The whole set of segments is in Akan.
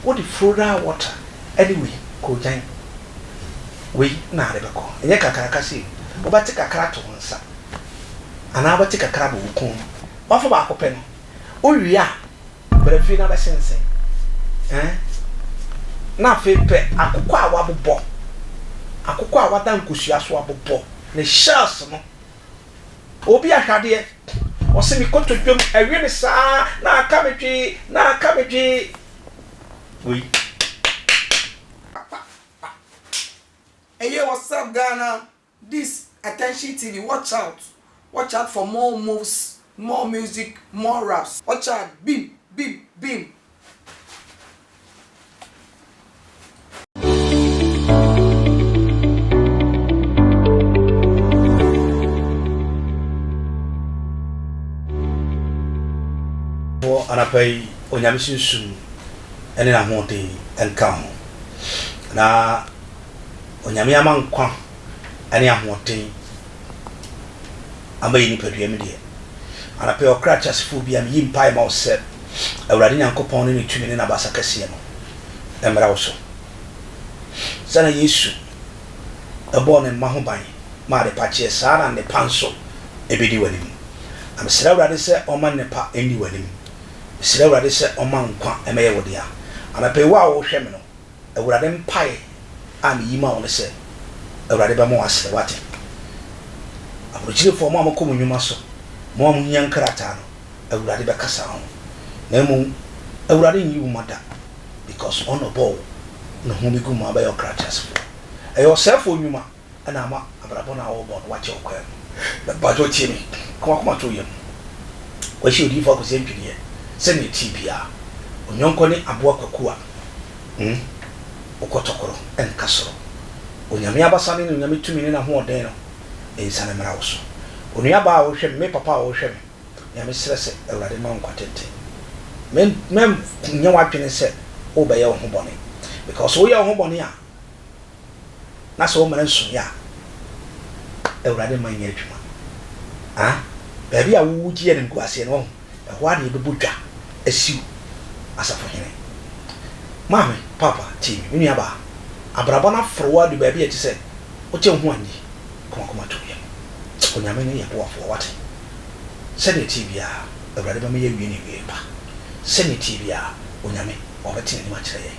Wode Froda Water ne wei Koogyan wei na ade bɛkɔ. Ɛnyɛ kakraka sei. Wobɛte kakra ato wo nsa anaa wobɛte kakra abɔ wo kɔn mu. Woafa baako pɛ no, wowie a bra fie na bɛsensɛn eh na afei pɛ akokɔ a woabobɔ, akokɔ a woada nkosua so abobɔ ne shells no. Obi ahwadeɛ, ɔse me kotodwam awe me saa na aka me dwee, na aka me dwee. Wei apa pa. Eyeeh what's up Ghana this attention TV watch out watch out for more moves more music more raps watch out bim bim bim anapa yi onyame sunsum ne n'ahoɔden nka ho na onyame ama nkwa ne ahoɔden ama yɛn nipadua mu deɛ, anɔpa yi, ɔkra teasefoɔ biara, meyi mpaeɛ ma wo sɛ, Awurade Nyankopɔn ne ne tumi ne n'abasa kɛseɛ no mmra wo so. Sɛdeɛ Yesu bɔɔ ne mma ho ban maa adepa kyeɛ, saa na nnepa nso bɛdi w'anim. Na mesrɛ Awurade sɛ ɔmma nnepa nni w'anim. Mesrɛ Awurade sɛ ɔmma nkwa mmɛyɛ wo dea. Anɔpa yi, wo a wohwɛ me no, Awurade mpae a miyi ma wo ne sɛ Awurade bɛma wo asere, woate? Aborɔkyirefoɔ, mo a mokɔ mo nnwuma so, mo a mohia nkrataa no, Awurade bɛkasa ho. Na mmom, Awurade nyi wo ma da, because Ɔna ɔbɔɔ wo no ho bi gu ma wobɛyɛ ɔkrateasefoɔ. Ɛyɛ ɔsɛefoɔ nnwuma. na ama abrabɔ no a wɔrebɔ no wɔakyɛ wɔ kwan mu. Mpakyɛw tie me, ka w'akoma to wo yam. Wɔahyɛ odiyifo Akosi Antwideɛ sɛ nea ɛteɛ biara, Onyɔnkɔ ne aboa kwaku a wokɔtɔkoro nka soro. Onyame abasa ne n'onyame tumi ne n'ahoɔden no nsiane mmra wo so. Onua baa a worehwɛ me, me papa a worehwɛ me, nea mesrɛ sɛ Awurade mma wo nkwa tenten. Mɛnyɛ w'adwene sɛ worebɛyɛ wo ho bɔne, because woyɛ wo ho bɔne a, na sɛ wɔma no nsonoeɛ a, Awurade mma nyɛ adwuma. A Baabi a wogye animguaseɛ no, wahu, ɛhɔ ara na yɛbɛbɔ dwa asiw Asafohene. Maame, Paapa, tie me, me nuabaa. Abrabɔ no aforo wo adu baabi a ɛte sɛ wote wo ho anni komakoma to yam. Onyame ne yɛn boafoɔ, woate? Sɛdeɛ ɛteɛ biara, Awurade bɛma yɛawie no awieeɛ pa. Sɛdeɛ ɛteɛ biara, Onyame, ɔbɛte n'anim akyerɛ yɛn.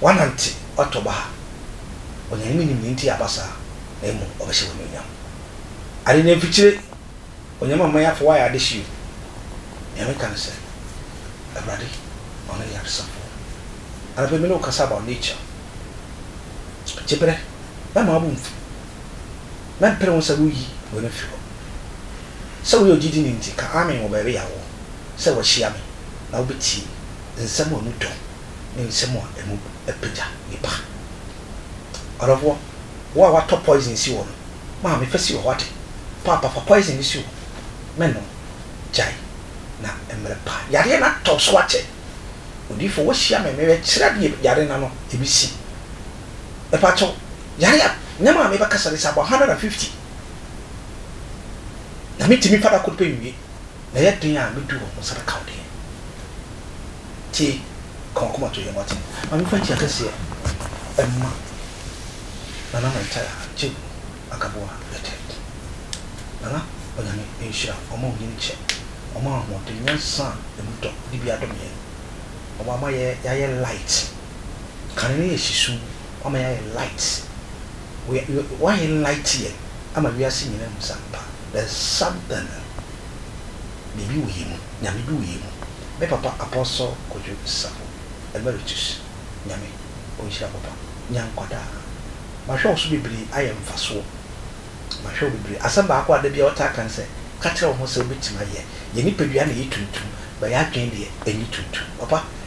Woanante w'atɔ baha. Onyame menim nea nti a aba saa na mmom ɔbɛhyɛ wo anuonyam. Ade na mfikyire Onyame ama yɛafa woayɛ adehye o. Nea meka ne sɛ Awurade ɔno yɛ adesafoɔ. Anɔpa yi me ne wo kasa about nature. Gyeberɛ mɛma wobo mfu. Mɛmpere wo sɛ woyi w'ani mfiri hɔ. Sɛ woyɛ ogyidini nti ka amen wɔ baabi a wowɔ sɛ woahyia me na wobɛtie nsɛm a emu dɔ ne nsɛm a emu apagya nnipa. Ɔdɔfoɔ, wo a woatɔ poison si hɔ no, maame fa si wɔ hɔ ate. Paapa fa poison no si hɔ, mɛnom. Gyae, na mmerɛ pa yadeɛ no atɔ so akyɛ. Odiyifoɔ, woahyia me, merebɛkyerɛ deɛ yadeɛ no ano bɛsi. Mepakyɛ wo, yareɛ a nneɛma a mebɛkasa no si abɔ 150, na mentumi fa da koro pɛ nwie. Na ɛyɛ den a mɛdi wo nsa bɛka wo deɛ. Tie, ka w'akomatoyɛ mu atem. Ma memfa nkyia kɛseɛ mma Nana Mantaya Agyegu Akaboa Etet. Nana, Onyame nhyira wo, ɔma onyin kyɛ, ɔma ahoɔden, nyansa a ɛmu dɔ, ne bi adom yɛn. Wama yɛayɛ light. Kane no yɛ sisuu, wama yɛayɛ light. Woayɛ light yɛn ama wiase nyinaa hu sɛ ampa, Bɛsam da no biribi wɔ yɛn mu, Nyame bi wɔ yɛn mu, me papa Apostle Kojo Safo Emeritus Nyame ɔnhyira wo papa, nya nkwa daa, mahwɛ wo so bebree ayɛ mfasoɔ, mahwɛ wo bebree, asɛm baako a da biara ɔtaa ka ne sɛ ka kyerɛ wo ho sɛ wobɛtumi ayɛ, yɛn nipadua na ɛyɛ tuntum but yɛn adwene deɛ ɛnyɛ tuntum, papa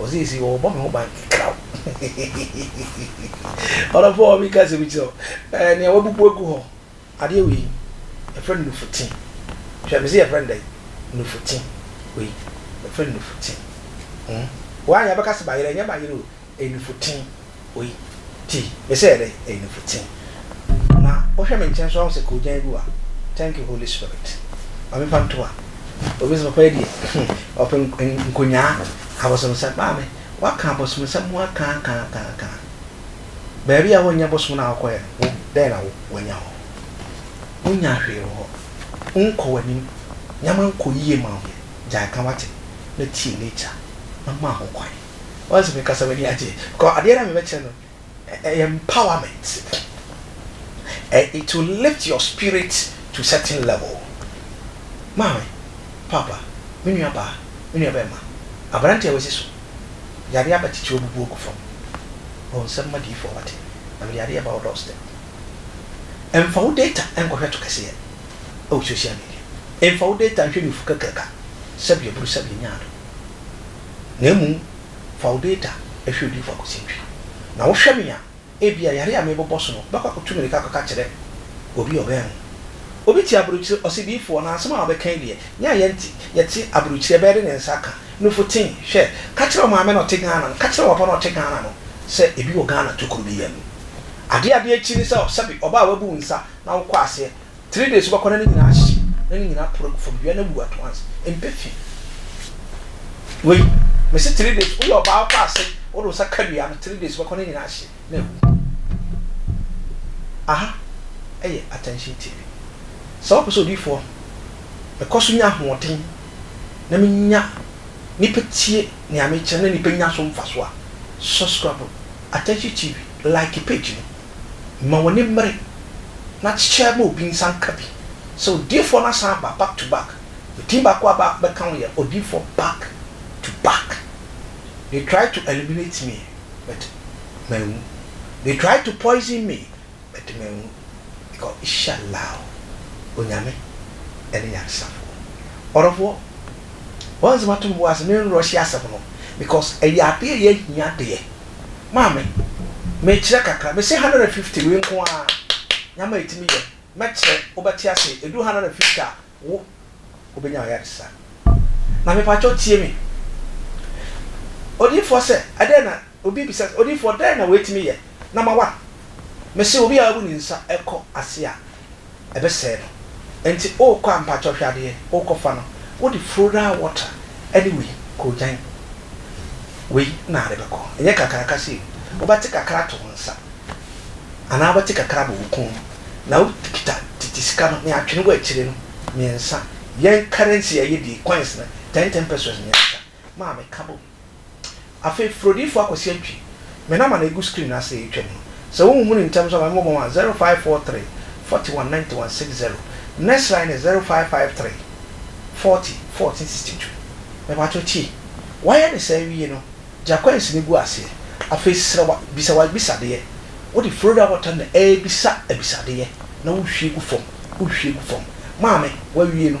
Ɔse seesei wɔbɔ me ho ban kraw Ɔdɔfo a ɔmeka sɛ mekyerɛ wo eh, nea wabubu agu hɔ Adeɛ wei yɛfrɛ no nufutin Hwɛ mese yɛfrɛ no dɛn nufutin Wei yɛfrɛ no nufutin mm. Woanyɛ a bɛka se bayerɛ, ɛnyɛ bayerɛ o, ɛyɛ nufutin Oi ti me sɛ ɛdɛ ɛyɛ nufu tee na wohwɛ me nkyɛn so ahu sɛ koogyan gu a thank you holy spirit ma me fa nto a obi sɛ papa yi deɛ hmm ɔpɛ nkonyaa abosomsɛm maame waka abosomsɛm ho aka aka aka aka baabi a wonnya bosom no a wokɔyɛ no wo dɛn na wanya hɔ wonya hwee wɔ hɔ wonkɔ w'anim nyama nkɔ yie ma wo yɛ gyae ka wate na tie nature na ma ho kwan Once me kasa w'ani agye because adeɛ na me bɛ kyerɛ no ɛyɛ empowerment and it will lift your spirit to certain level. Maame, Papa, me nua baa, me nua bɛɛma, abranteɛ a w'asi so yadeɛ aba titire ɔbubu ɔgu fam wɔ nsɛm ma diyifoɔ w'ate na mede adeɛ ba wo door step. Nfa wo data nkɔ hwɛ to kɛseɛ ɛwɔ social media, nfa wo data nhwɛ nufu kakraka sɛbi aburu sɛbi nyaado. na mmom fa wo data hwɛ Odiyifo Akosi Ntwi, na wohwɛ me a, ebia yare a merebobɔ so no, bɛkɔ akɔtu mmirika akɔka akyerɛ obi a ɔbɛn wo. Obi te aburokyire, ɔse, Diyifo, ɔnam asɛm a wobɛka yi deɛ, me a yɛnte, yɛte aburokyire, ɛbɛyɛ dɛ ne nsa aka. Nufutee, hwɛ, ka kyerɛ wo maame na ɔte Ghana no, ka kyerɛ w'apa na ɔte Ghana no sɛ ebi wɔ Ghana tokuro bi yam. Adeɛ a ade akyi ne sɛ, sɛbe ɔbaa wabu wo nsa na wokɔ aseɛ Three days wobɛkɔ na ne nyinaa ahye na ne nyinaa poro gu fam wia na wu at once mpɛ fi wei mesi three days woyɛ ɔbaa kɔ ase wode wo nsa ka dua no three days wobɛkɔ ne nyinaa ahye na awu aha ɛyɛ attention tv sɛ wopɛ sɛ odiifoɔ mekɔ so nya ahoɔden na menya nipa tie nea mekyerɛ na nipa nya so mfa so a subscribe attention tv like page no Ma w'ani mmere na kyekyɛ ma obi nsa nka bi. Sɛ odiyifoɔ no asan aba back to back, the thing baako a bɛka ho yɛ odiyifoɔ back to back. They tried to eliminate me but manwu. They tried to poison me but manwu because Ishallaahu, Onyame ne Nyansafoɔ. Ɔdɔfoɔ, woansi m'atom bo ase menrushe asɛm no because ɛyɛ adeɛ a ɛyɛ ahia deɛ. Maame, mekyerɛ kakra. Mese hundred and fifty wei nko ara Nyame etumi yɛ, mɛkyerɛ, wobɛte ase. Edu hundred and fifty a wo wobɛnya ayaresa. Na mepakyɛw tie me. Odiyifoɔ sɛ, ɛdɛn na, obi bisa sɛ, Odiyifoɔ dɛn na wei tumi yɛ na ma wa? Mese obi a wabu ne nsa kɔ ase a. ɛbɛsɛe no nti ookɔ a mpakyɛw hwɛ adeɛ ookɔ fa no wode fluoride water ɛne wei koogyan wei na ade bɛkɔ ɛnyɛ kakraka sei wobɛte kakra to wo nsa anaa wobɛte kakra abɔ wo kɔn mu na wo kita tete sika no ne atwene wɔ akyire no mmiɛnsa yɛn currency a yɛdie coins no ten ten pesos mmiɛnsa maame ka bom. Afei Frodinfo Akwasi Antwi, me number na egu screen no ase a etwam no. Sɛ wonnhunii ntɛm nso a ma memmɔbɔ mma wo, 0543 41 91 60. Next line ne 0553 40 14 62. Mepatwo tie. Wayɛ ne saa wie no, gye akwansi no gu aseɛ. Afei serɛ wa, bisa w'abisadeɛ. Wode Frodo abɔtɔ na ɛrebisa abisadeɛ na wohwie gu fam, wohwie gu fam. Maame, wawie no.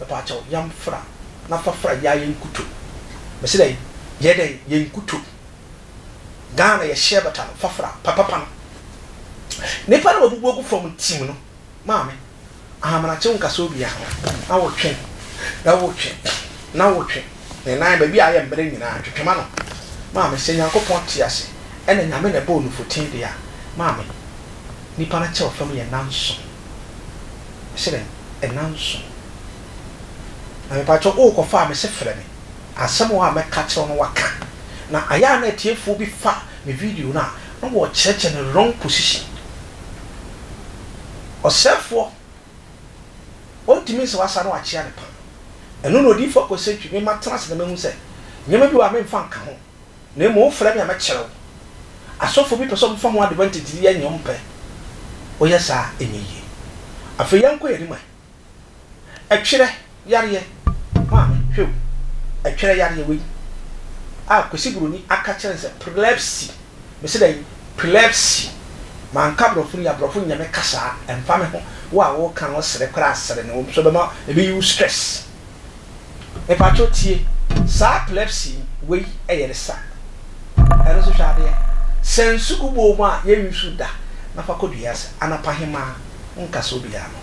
Mepaakyɛw yam fra na fa fra yɛ a yɛ nkuto mese dɛn yɛ dɛn yɛ nkuto Ghana yɛ hyɛ bata no fa fra papapa no Nipa na wabubu agu fam ntim no maame Ahamena kyew nkasa obia ho na wo twe na wo twe na wo twe ne nan baabi a ayɛ mmere nyinaa twetwe ma no maame Sɛ Nyankopɔn te ase ɛna Nyame na ɛbɔɔ nufoten de a maame Nipa no kyɛw fam yɛ nanso. Mese dɛn? Nnanson. Na mepakyɛw worekɔfa a mese frɛ me. Asɛm wɔ hɔ a mɛka akyerɛ wo na woaka. Na ayɛ a na atiefoɔ bi fa me video no a, na wɔrekyerɛkyerɛ no wrong position. Ɔsɛefoɔ, ɔntumi nsɛ w'asa na wakyea ne paa. Ɛno na Odiyifoɔ Kwesi Antwi, me matena ase na mahu sɛ, nneɛma bi wɔ hɔ a memfa nka ho. Na mmom wofrɛ me a mɛkyerɛ wo. Asɔfoɔ bi pɛ sɛ wɔfa ho advantage de yɛ nea wɔmpɛ. Woyɛ saa a, ɛnyɛ yie. Afei yɛnkɔ yɛn anim ɛ. Ɛtwerɛ yareɛ, maame, hwɛ o, ɛtwerɛ yareɛ wei a Kwesi Buroni aka kyerɛ no sɛ prelepsy, mese dɛn? Prelepsy. Manka Aborɔfo no yie a, Aborɔfo nnyɛ me kasa, ɛmfa me ho. Wo a woreka no, wosere koraa a, sere. Na mmom so ɛbɛma, ɛbɛyi wo stress. Mepakyɛw tie, saa plebsy wei yɛ ne sa. Ɛno nso hwɛ adeɛ. Sɛ nsu gu bowl mu a, yɛn use da na fa kɔ dua ase. Anɔpahemaa, nkasa obiara ano.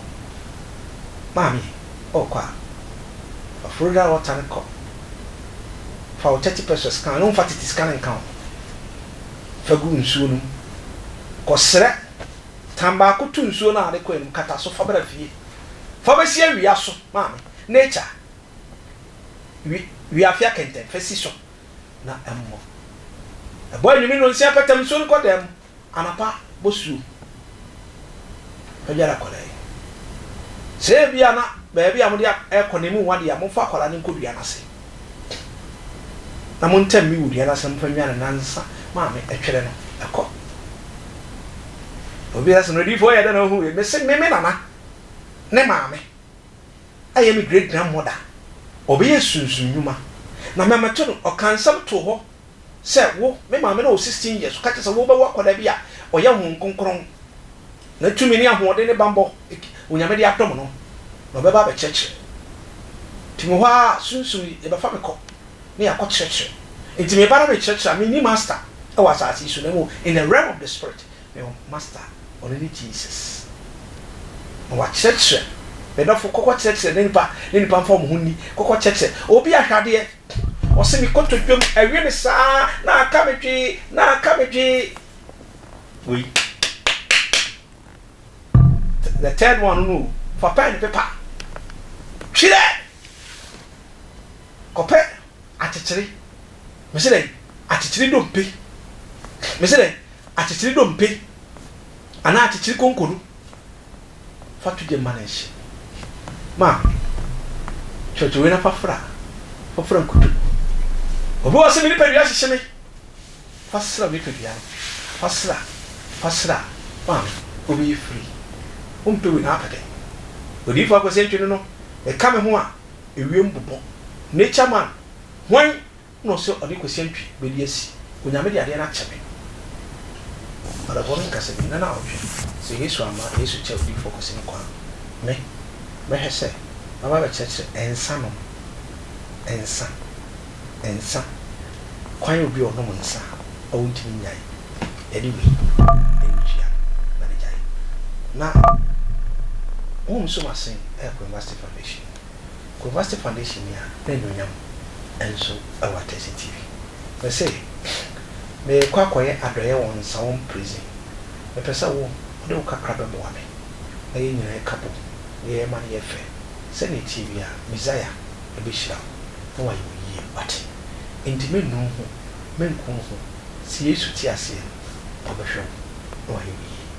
Maame, ɔɔkɔ a, fa florida water no kɔ. Fa wo thirty pesos ka ho, na womfa tete sika no nka ho. Fa gu nsuo no mu. Kɔsrɛ, tan baako to nsuo no a wode kɔe no mu, kata so fa bra fie. Fa besi awia so, maame. Nature. Wi, wi afia kɛntɛn, fa si so, na ɛmmɔ. Ɛbɔ anwummi nnɔnsia pɛtɛm, nsuo no kɔ dan mu, anapa bɔ suom. Fa dware akwadaa yi. Sɛ ebia na baabi a mode a, ɛrekɔ no emu nwa deɛ a, momfa akwadaa no nkɔ dua no ase. na mo ntam me wudua no asɛm mfa nnya no nansa ma me ɛtwɛrɛ no ɛkɔ na obi asɛ no ɔdiyifo ɔyɛ dɛ na ɔhu wei mese me me nana ne maame ayɛ me great grandmother ɔbɛyɛ sunsum nwuma na mɛmɛto no ɔka nsɛm too hɔ sɛ wo, me maame no wɔ sixteen years, ɔka kyerɛ sɛ wobɛwo akwadaa bi a ɔyɛ Honhom Kronkron, na tumi ne ahoɔden ne bammɔ Onyame de adom no, na ɔbɛba abɛkyerɛkyerɛ. Nti mewɔ hɔ ara a, Sunsum yi, yɛbɛfa me kɔ na yɛakɔ kyerɛkyerɛ. Nti meba na mekyerɛkyerɛ a, menni Master wɔ asase yi so, na mmom in the realm of the Spirit, mewɔ Master, ɔno ne Jesus. Na wakyerɛkyerɛ, me dɔfo, kɔkɔ kyerɛkyerɛ na nipa ne nipa mfa wɔn ho nni, kɔkɔ kyerɛkyerɛ obi ahwɛ adeɛ. Ɔse me kɔtɔ dwam awie ne saa na aka me dwee na aka me dwee wei the third one no fa pɛn ne pepa twerɛ kɔpɛ akyekyere mese dɛ akyekyere dompe mese dɛ akyekyere dompe anaa akyekyere konko no fa to gya ma no nhye. Ma kyerɛkyerɛwee no fa fra, fa fra nkuto. Obi wɔ hɔ sɛ me nipadua hyehye me, fa sra me nipadua no, fa sra, fa sra ma me. Obi yi firi, wompɛ wei na apɛ dɛ. Odiyifo Akwasi Antwi no no, ɛka me ho a ewiem bobɔ. Nature man, hwan? Nna ɔsɛ ɔnye Kwesi Antwi bedi esi. Onyame de adeɛ no akyɛ me. Ɔdafoɔ no nka sɛ meyɛ nanaawɔtwe. Sɛ Yesu amma Yesu kyɛ odiyifoɔ Kwesi no kwan a, me, mɛhwɛ sɛ maba abɛkyerɛkyerɛ nsa nom, nsa, nsa, kwan a obi a ɔnom nsa a ɔntumi nnyae ɛne wei, ɛntua na megyae. Na honhom som asen ɛrekɔ University Foundation mu. Kumasi foundation yi a n'anuonyam nso wɔ Atɛsi TV. Mese merekɔ akɔyɛ adɔeɛ wɔ Nsawam prison. Mepɛ sɛ wo wode wo kakra bɛboa me na yɛn nyinaa ɛka bom na yɛma no yɛ fɛ. Sɛdeɛ ɛteɛ biara Messiah bɛhyira wo na wayɛ wo yie wate. Nti mennu wo ho, menku wo ho, si Yesu te aseɛ no na ɔbɛhwɛ wo na wayɛ wo yie.